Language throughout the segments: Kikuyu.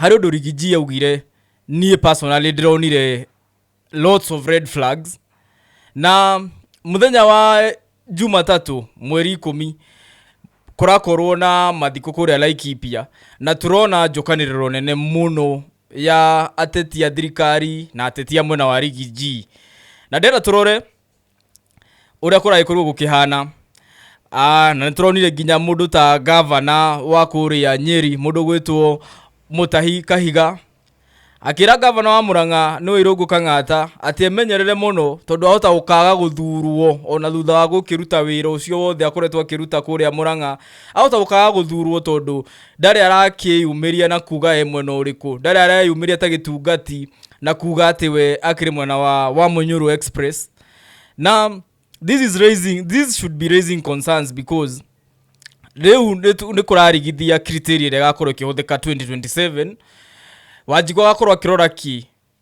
harĩ ũndũ Rigiji augire niĩ personally ndĩronire lots of red flags na mũthenya wa Jumatatũ mweri ikũmi kũrakorwo na mathiko kũrĩa Laikipia na tũrona njokanĩrĩro nene mũno ya ateti a thirikari na ateti a mwena wa Rigiji na ndĩrenda tũrore ũrĩa kũragĩkorwo gũkĩhana Ah, na nĩtũronire nginya mũndũ ta gavana wa kũrĩa nyeri mũndũ gwĩtwo mũtahi kahiga akĩra gavana wa mũrang'a nĩwe irũngũ kang'ata atĩ emenyerere mũno tondũ ahota gũkaga gũthurwo ona thutha wa gũkĩruta wĩra ũcio wothe akoretwo akĩruta kũrĩa mũrang'a ahota gũkaga gũthurwo tondũ ndarĩ arakĩyumĩria na kuga e mwena ũrĩkũ ndarĩ areyumĩria ta gĩtungati na kuga atĩ we akĩrĩ mwena wa, wa Munyuru Express na this is raising this should be raising concerns because rĩu nĩtu- nĩ kũrarigithia criteria ĩrĩa ĩgakorwo ĩkĩhũthĩka 2027 wanjigũ agakorwo akĩrora ki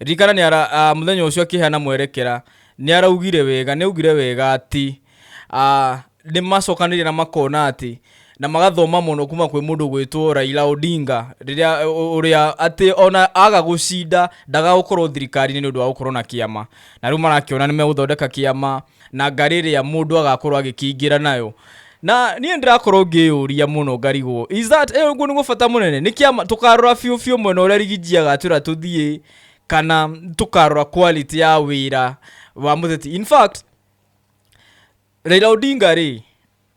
Ririkana nĩ ara, a, mũthenya ũcio akĩheana mwerekera, nĩ araugire wega, nĩ augire wega atĩ, a, nĩ macokanĩrĩire na makona atĩ, na magathoma mũno kuma kwĩ mũndũ gwĩtwo Raila Odinga, rĩrĩa ũrĩa atĩ ona aga gũcinda ndagagũkorwo thirikari-inĩ nĩ ũndũ wa gũkorwo na kĩama. Na rĩu marakĩona nĩ megũthondeka kĩama, na ngarĩ ĩrĩa mũndũ agakorwo agĩkĩingĩra nayo na niĩ ndĩrakorwo ngĩyũria mũno ngarigwo is that eh, ũguo nĩguo bata mũnene nĩ kĩama tũkarora biũ biũ mwena ũrĩa rigiji agatwĩra tũthiĩ kana tũkarora quality ya wĩra wa mũteti in fact Raila Odinga rĩ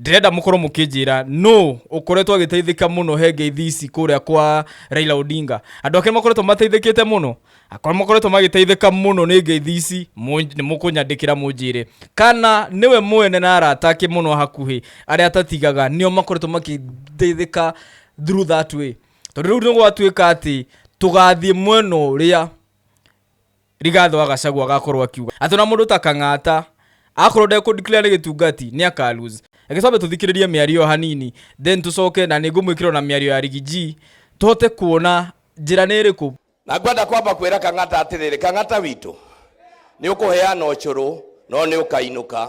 ndĩrenda mũkorwo mũkĩnjĩra nũ ũkoretwo agĩteithĩka mũno he ngeithi ici kũrĩa kwa Raila Odinga andũ ake makoretwo mateithĩkĩte mũno akorwo makoretwo magĩteithĩka mũno nĩ ngeithi ici mũ- nĩ mũkũnyandĩkĩra mũnjĩre kana nĩwe mwene na arata ake mũno hakuhĩ arĩa atatigaga nĩo makoretwo makĩteithĩka through that way tondũ rĩu nĩ gwatuĩka atĩ tũgathiĩ mwena ũrĩa Rigathũ wa Gachagua agakorwo akiuga atĩ ona mũndũ ta Kang'ata akorwo ndekũ declare nĩ gĩtungati nĩ aka lose. Reke twambe tũthikĩrĩrie mĩario ĩyo hanini then tũcoke na nĩ ngũmwĩkĩra ona mĩario ya Riggy G tũhote kuona njĩra nĩ ĩrĩkũ. Na ngwenda kwamba kwĩra Kang'ata atĩrĩrĩ, Kang'ata witũ, nĩ ũkũheana ũcũrũ no nĩ ũkainũka.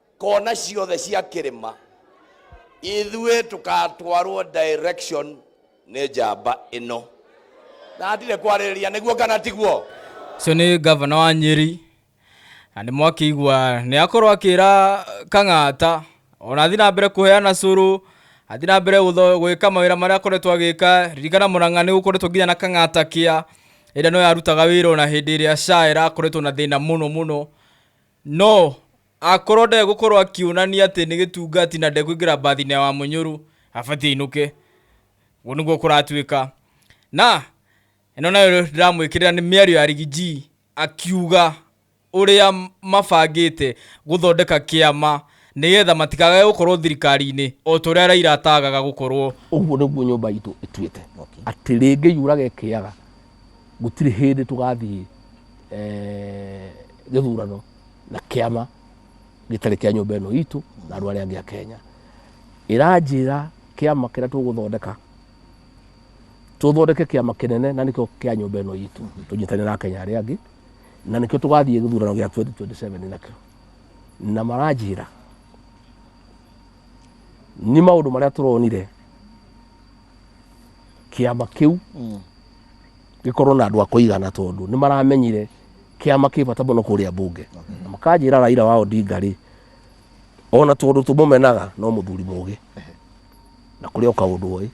kona ciothe cia kĩrĩma ithuĩ tũkatwarwo direction nĩ njamba ĩno na ndirĩ kwarĩrĩria nĩguo kana tiguo ũcio nĩ gavana wa nyeri na nĩ mwakĩigua nĩ akorwo akĩra kang'ata ona athiĩ na mbere kũheana cũrũ athiĩ na mbere gũtho- gwĩka mawĩra marĩa akoretwo agĩka ririkana mũrang'a nĩ gũkoretwo nginya na kang'ata kĩa ĩrĩa no yarutaga wĩra ona hĩndĩ ĩrĩa sha ĩrakoretwo na thĩna mũno mũno No, akorwo ndegũkorwo akĩonania atĩ nĩ gĩtungati na ndekũingĩra mbathinĩ ya Wamũnyũrũ, abatiĩ ainũke. Ũguo nĩguo kũratuĩka. Na, ĩno nayo ndĩramwĩkĩrĩra nĩ mĩario ya Rigiji, akiuga ũrĩa mabangĩte gũthondeka kĩama nĩgetha matikagage gũkorwo thirikari-inĩ o ta ũrĩa Raila ataagaga gũkorwo. Ũguo nĩguo nyũmba itũ ĩtuĩte atĩ rĩngĩ yuraga ĩkĩaga gũtirĩ hĩndĩ tũgathiĩ eh, gĩthurano na kĩama gĩtarĩ kĩa nyũmba ĩno itũ na andũ arĩa angĩ a Kenya ĩranjĩra kĩama kĩrĩa tũgũthondeka tũthondeke kĩama kĩnene na nĩkĩo kĩa nyũmba ĩno itũ tũnyitane na Akenya arĩa angĩ na nĩkĩo tũgathiĩ gĩthurano gĩa 2027 nakĩo na maranjĩra nĩ maũndũ marĩa tũronire kĩama kĩu Mm. gĩkorwo na andũ a kũigana tondũ nĩ maramenyire kĩama kĩ bata mũno kũrĩa mbunge na makanjĩra raira wa odinga rĩ ona tondũ tũmũmenaga no mũthuri mũgĩ na kũrĩ o kaũndũ oĩ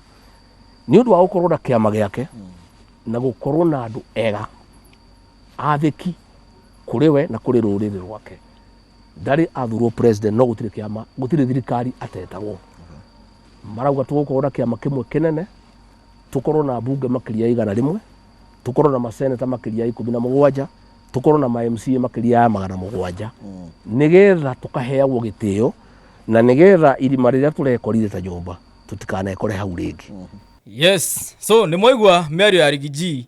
nĩ ũndũ wa gũkorwo na kĩama gĩake na gũkorwo na andũ ega athĩki kũrĩ we na kũrĩ rũrĩrĩ rwake ndarĩ athurwo president no gũtirĩ kĩama gũtirĩ thirikari atetagwo marauga tũgũkorwo na kĩama kĩmwe kĩnene tũkorwo na bunge makĩria ya igana rĩmwe tũkorwo na maseneta makĩria ya ikũmi na mũgwanja tũkorwo na mamca makĩria ya magana mũgwanja nĩgetha tũkaheagwo gĩtĩo na nĩgetha irima rĩrĩa tũrekorire ta nyũmba tũtikanekore hau rĩngĩ yes so nĩ mwaigua mĩario ya rigiji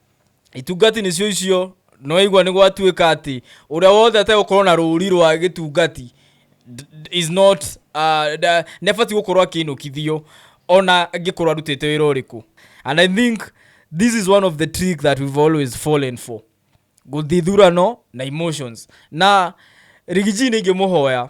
itungati nĩcio icio nĩwaigua nĩ gwatuĩka atĩ ũrĩa wothe ategũkorwo na rũri rwa gĩtungati d- d- is not uh, da- nĩabatiĩ gũkorwo akĩinũkithio ona angĩkorwo arutĩte wĩra ũrĩkũ and i think this is one of the trick that we've always fallen for gũthithurano na emotions na rigiji nĩ ingĩmũhoya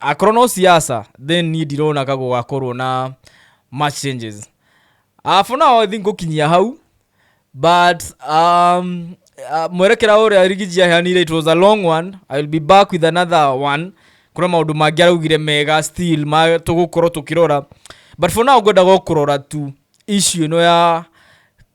Akorwo no siasa then niĩ ndirona ka gũgakorwo na much changes. Uh, for now I think gũkinyia hau but um, uh, mwerekera ũrĩa rigiji aheanire it was a long one i will be back with another one kuna maũndũ mangĩ araugire mega still ma tũgũkorwo tũkĩrora but for now ngwendaga o kũrora tu issue ĩno ya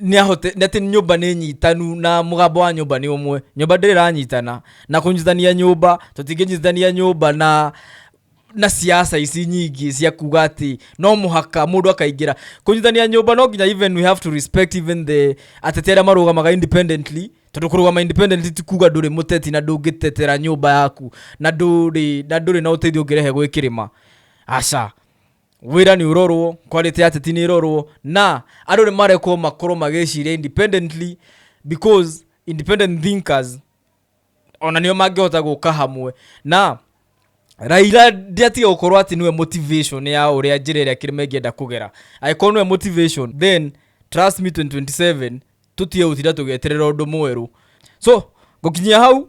nĩahote nĩ atĩ nyũmba nĩ nyitanu na mũgambo wa nyũmba nĩ ũmwe nyũmba ndĩrĩ ĩranyitana na kũnyitithania nyũmba tũtingĩnyitithania nyũmba na na siasa ici nyingĩ cia kuga atĩ no mũhaka mũndũ akaingĩra kũnyitithania nyũmba no nginya even we have to respect even the ateti arĩa marũgamaga independently tondũ kũrũgama independently ti kuga ndũrĩ mũteti na ndũngĩtetera nyũmba yaku na ndũrĩ na ndũrĩ na ũteithio ũngĩrehe gwĩ kĩrĩma aca wĩra nĩ ũrorwo quality ya teti nĩ ĩrorwo na andũ nĩ marekwo makorwo magĩciria independently because independent thinkers ona nĩo mangĩhota gũka hamwe na raira ndiatiga gũkorwo atĩ nĩwe motivation ya ũrĩa njĩra ĩrĩa kĩrĩma ĩngĩenda kũgera angĩkorwo nĩwe motivation then trust me 2027 tũtige gũtinda tũgĩeterera ũndũ mwerũ so ngũkinyia hau